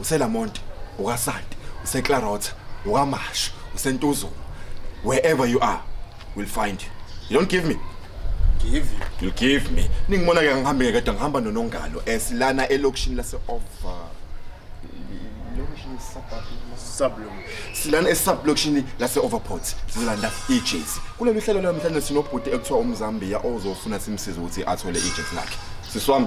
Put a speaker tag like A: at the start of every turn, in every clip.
A: uselamont ukasanti useclarota ukamashu usentuzuma wherever you are will find you you don't give me give you
B: you'll give me
A: ningibona ke ngihambe ngeke kodwa ngihamba nonongalo esilana elokishini lase over lokishini suburb sublum silana esublokishini lase overport sizolanda ijezi kulolu hlelo lwamhlanje sinobhuti ekuthiwa umzambiya ozofuna simsize ukuthi athole ijezi lakhe siswami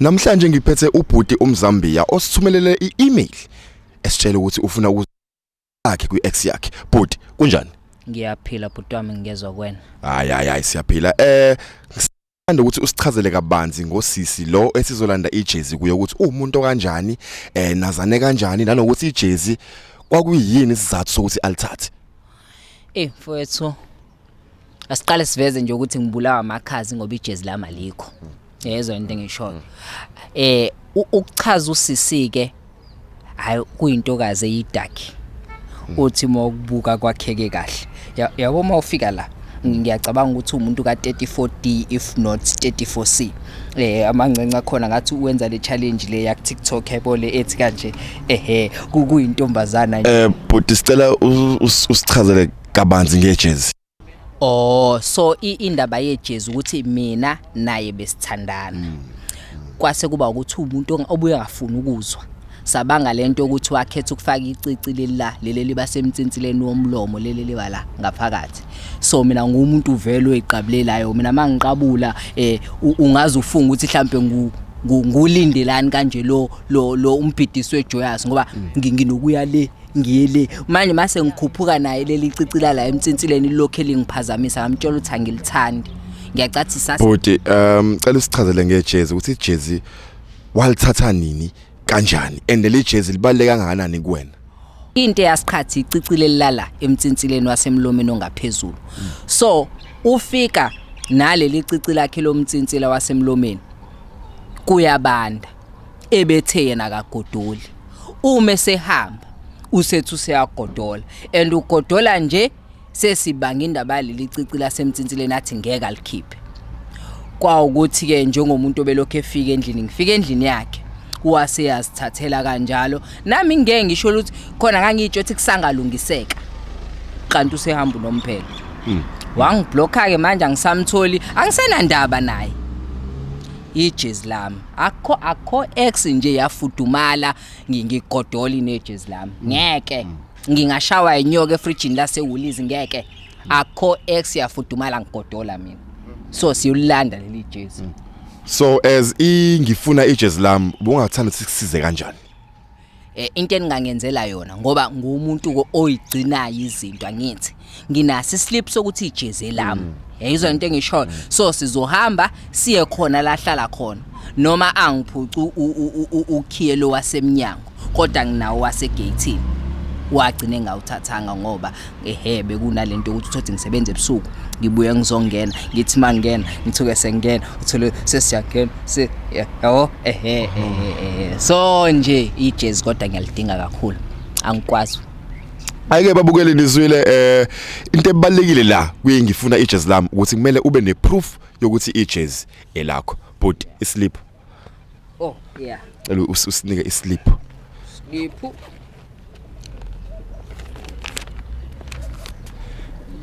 A: Namhlanje ngiphethe ubhuti umzambiya osithumelele i-email esitshela ukuthi ufuna ukuzakhe kwi-ex yakhe. Bhuti, kunjani? Ngiyaphila bhuti
C: wami ngingezwa kwena. Hayi hayi hayi siyaphila.
A: Eh Ngithanda ukuthi usichazele kabanzi ngosisi lo esizolanda ijezi kuye ukuthi uwumuntu kanjani eh nazane kanjani nanokuthi ijezi kwakuyini isizathu sokuthi alithathe. Eh
C: mfowethu asiqale siveze nje ukuthi ngibulawa amakhazi ngoba ijezi lami alikho yezwa into engishoyo eh u- ukuchaza usisi ke hayi kuyintokazi eyidaki uthi uma ukubuka kwakheke kahle Ya- yabo uma ufika la ngiyacabanga ukuthi umuntu ka 34D if not 34C eh amancenca khona ngathi uwenza le challenge le yak TikTok yabo le ethi kanje ehe ku- kuyintombazana nje Eh bhuti sicela u-
A: us- usichazele kabanzi ngejezi oh
C: so indaba yejezi ukuthi mina naye besithandana mm. kwase kuba ukuthi umuntu obuye ngafuna ukuzwa sabanga lento ukuthi wakhetha ukufaka icici lelila leli liba semtsinsileni womlomo leli liba la ngaphakathi so mina ngumuntu uvele oyiqabulelayo mina mangiqabula eh ungaze ufunga ukuthi mhlambe ngu ngulindelani kanje lo lo umbhidisi wejoyous ngoba mm. nginokuya le ngili manje mase ngikhuphuka naye leli cicila la emtsinsileni lokho elingiphazamisa ngamtshela ukuthi angilithandi ngiyacathisa bhuti um
A: cela usichazele ngejezi ukuthi ijezi walithatha nini kanjani and leli jezi libaluleke kangakanani kuwena into
C: eyasiqhathi icicile lilala emtsinsileni wasemlomeni ongaphezulu so ufika naleli cici lakhe lomtsintsila wasemlomeni kuyabanda ebethe yena akagodoli uma esehamba usethi useyagodola and ugodola nje sesibanga indaba yaleli cici lasemtsinsileni athi ngeke alikhiphe kwawukuthi-ke njengomuntu obelokhu efika endlini ngifika endlini yakhe wase yazithathela kanjalo nami ngeke ngisho ukuthi khona ngangitsho ukuthi kusangalungiseka kanti usehamba unomphelo hmm. wangiblokha-ke manje angisamtholi angisenandaba naye ijezi lami akho akho ex nje yafudumala ngingigodoli nejezi lami mm. ngeke mm. ngingashawa inyoka efridgini lasewulizi ngeke mm. akho ex yafudumala ngigodola mina so siyulanda leli jezi so as
A: ingifuna ijezi lami ubungathanda sikusize kanjani eh, into
C: eningangenzela yona ngoba ngumuntu oyigcinayo izinto angithi nginasi slip sokuthi ijeze lami mm. yayizwa into engishoyo mm. so sizohamba siye khona lahlala khona noma angiphucu ukhiye lo wasemnyango kodwa nginawo wasegate wagcine ngawuthathanga ngoba ehe bekunalento ukuthi uthothi ngisebenze ebusuku ngibuye ngizongena ngithi mangena ngithuke sengena uthole sesiyagena se yabo ehe ehe so nje ijezi kodwa ngiyalidinga kakhulu angikwazi ayike
A: babukele nizwile eh into ebalekile la kuye ngifuna ijezi lami ukuthi kumele ube neproof yokuthi ijezi elakho but islip Oh
C: yeah. Cela usinike
A: islip. Slip.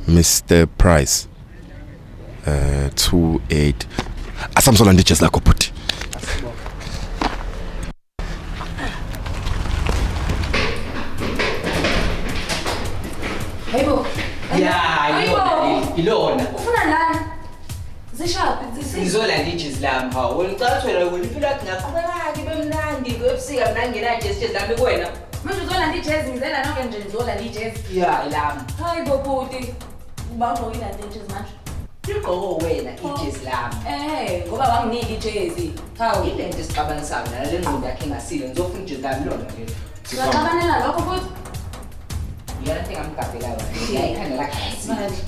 A: Mr Price. Uh eh, 28 asamsola ndijezi lakho bhuti
C: zishaphi zisizwe ngizolanda ijezi lami hawu wena ucala ukuthi wena wena impilo yakho ingaqhubekaki ibe mnandi ebusika mna ngingenayo ijezi ijezi lami kuwena manje uzolanda ijezi
D: ngizela noke nje ngizolanda ijezi ya ilami
C: hayi bobuti
D: uba ugqoke ilanda ijezi manje ligqoko wena
C: ijezi lami ehe ngoba wanginika
D: ijezi hawu ile nto esixabanisayo
C: nala le ngqondo yakhe engasile ngizofuna ijezi lami lona lelo Siyaxabanela lokho futhi. Iyona nto engamgabhelayo.
A: Yayikhanda lagazi. Manje.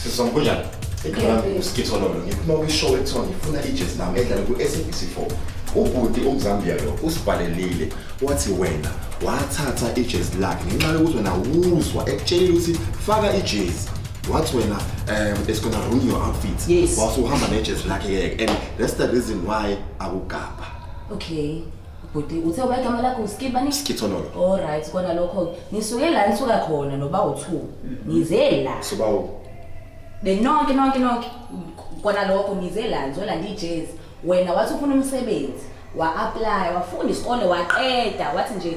A: Sisi wami kunjani? Igama lami uSkitho Lolo. Ngiphuma kwishow ekuthiwa ngifuna ijezi lami edlala ku-SABC 4. Ubhuti umzambiya lo usibhalelile wathi wena wathatha ijezi lakhe ngenxa yokuthi wena wuzwa ekutshelile ukuthi faka ijezi wathi wena um it's gonna ruin your outfit Yes. wasuhamba nejezi
C: lakhe-ke
A: and that's the reason why akugabha Okay.
D: bhuti uthe uba igama lakho uskibani Skithonolo. all
A: right kona
D: lokho-ke ngisuke la ngisuka khona noba u-two ngize la Soba u.
A: benonke
D: nonke nonke kona lokho ngize la ngizolanda ijezi wena wathi ufuna umsebenzi wa-aplaya wafunda isikole waqeda wathi nje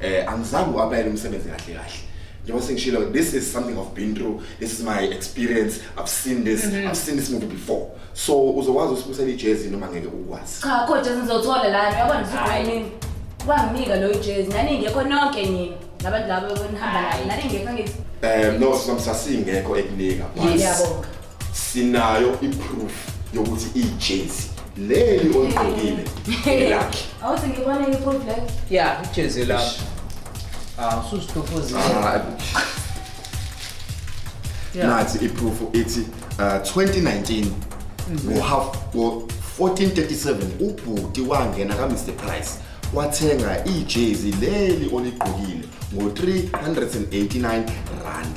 A: eh angizange uapply umsebenzi kahle kahle njengoba sengishilo this is something i've been through this is my experience i've seen this mm -hmm. i've seen this movie before so uzokwazi usibusela ijezi noma ngeke ukwazi cha kodwa sizothola
D: la yabona ngizokwenini wanginika lo ijezi nani ngekho nonke nini nabantu labo benihamba
A: naye nani ngekho ngithi um no sisasingekho ekunika yabonga
D: sinayo
A: iproof yokuthi ijezi leli oligqokile elakhe awuthi ngibone iproof leyo
D: ya ijezi
C: lakho ah ususitofozile ah,
A: nathi iproof ithi uh, 2019 ngo half ngo 1437 ubhuti wangena ka Mr Price wathenga ijezi leli oligqokile ngo 389 rand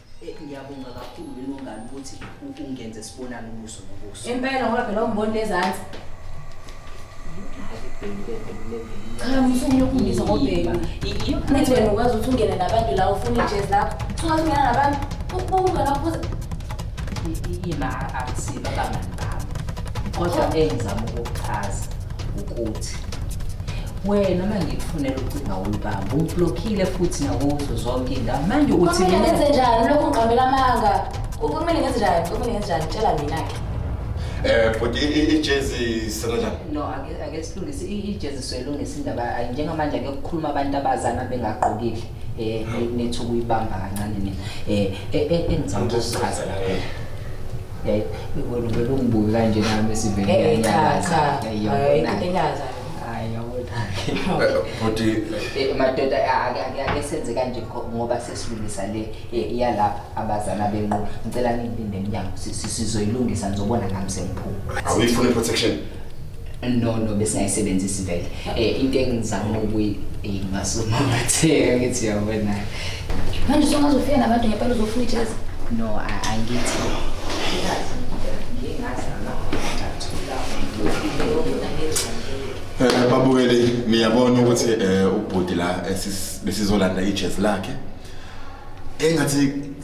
C: Eh, ngiyabonga kakhulu
D: lelungane ukuthi ungenze sibonane ubuso nobuso impela ngoba phela umboni lezansi cha msumi yokumbiza ngobheka nithi wena ukwazi ukuthi ungene nabantu la ufuna ijezi lakho sukwazi ungena nabantu ukubuka lapho
C: yima akusiba bangani bami kodwa engizama ukuchaza ukuthi wena uma ngikufunela ucinga ulubamba ublokhile futhi nakuzo zonke indawo manje uthi mina ngenze njani lokhu
D: ngiqambela amanga kumele ngenze njani kumele ngenze njani tshela mina-ke Eh but
A: ijezi senanjani? No ake ake
C: silungise ijezi soyilungisa indaba njengamanje ake kukhuluma abantu abazana bengagqokile eh nethu kuyibamba kancane mina eh, eh, eh engicela ukuchaza la. Yayi, wena uvele ungibuke kanje nami sivele Eh, cha, ngiyanyaza. cha. Yayi, Hayi,
D: yabona. into
C: enyaza yona.
D: Hayi,
C: yabona. Eh, Bhuti
A: Eh, madoda
C: a- ake- ake ake senze kanje ngo- ngoba sesilungisa le eh, iyalapha abazana benqo ngicela ningilinde emnyango Si- si- sizoyilungisa ngizobona ngami sengiphuma awuyifuni i-protection
A: no
C: no besingayisebenzisi vele eh into engizama ukuyi ngasuma ngatheka ngithi yabona manje
D: songazofika nabantu ngempela uzofuna ijezi no
C: angithi
A: Eh babukeli niyabona ukuthi eh ubhuti la besizolanda ijezi lakhe engathi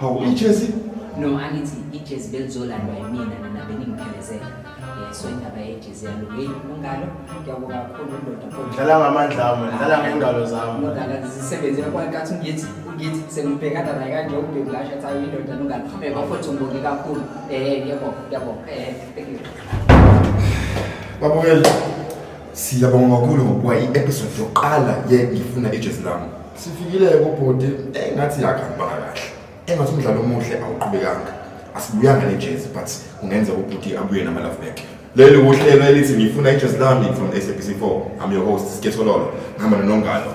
C: Hawu ijezi? No, angithi ijezi belizolandwa yimina nina beningiphelezela. Eh, so indaba yejezi yalungile ungalo ngiyabonga kakhulu ndoda kodwa dlala ngamandla ami
E: dlala ngengalo zami ngidlala zisebenzela
C: kwankathi ngithi ngithi sengibhekana naye kanje ubheblasha thayi indoda nongalo eh bafowethu ngibonge kakhulu eh ngiyabonga ngiyabonga eh thank you babukela
A: Siyabonga kakhulu ngokuba i-episode yokuqala ye ngifuna ijezi lami. Sifikile-ke kubhuti eh, engathi yakhambanga kahle. Engathi umdlalo omuhle awuqhubekanga. Asibuyanga nejezi but kungenza ubhuti abuye nama-love back. Leli wuhlelo elithi ngifuna ijezi lami from SABC 4. I'm your host, Sikesololo. Ngihamba nonongalo.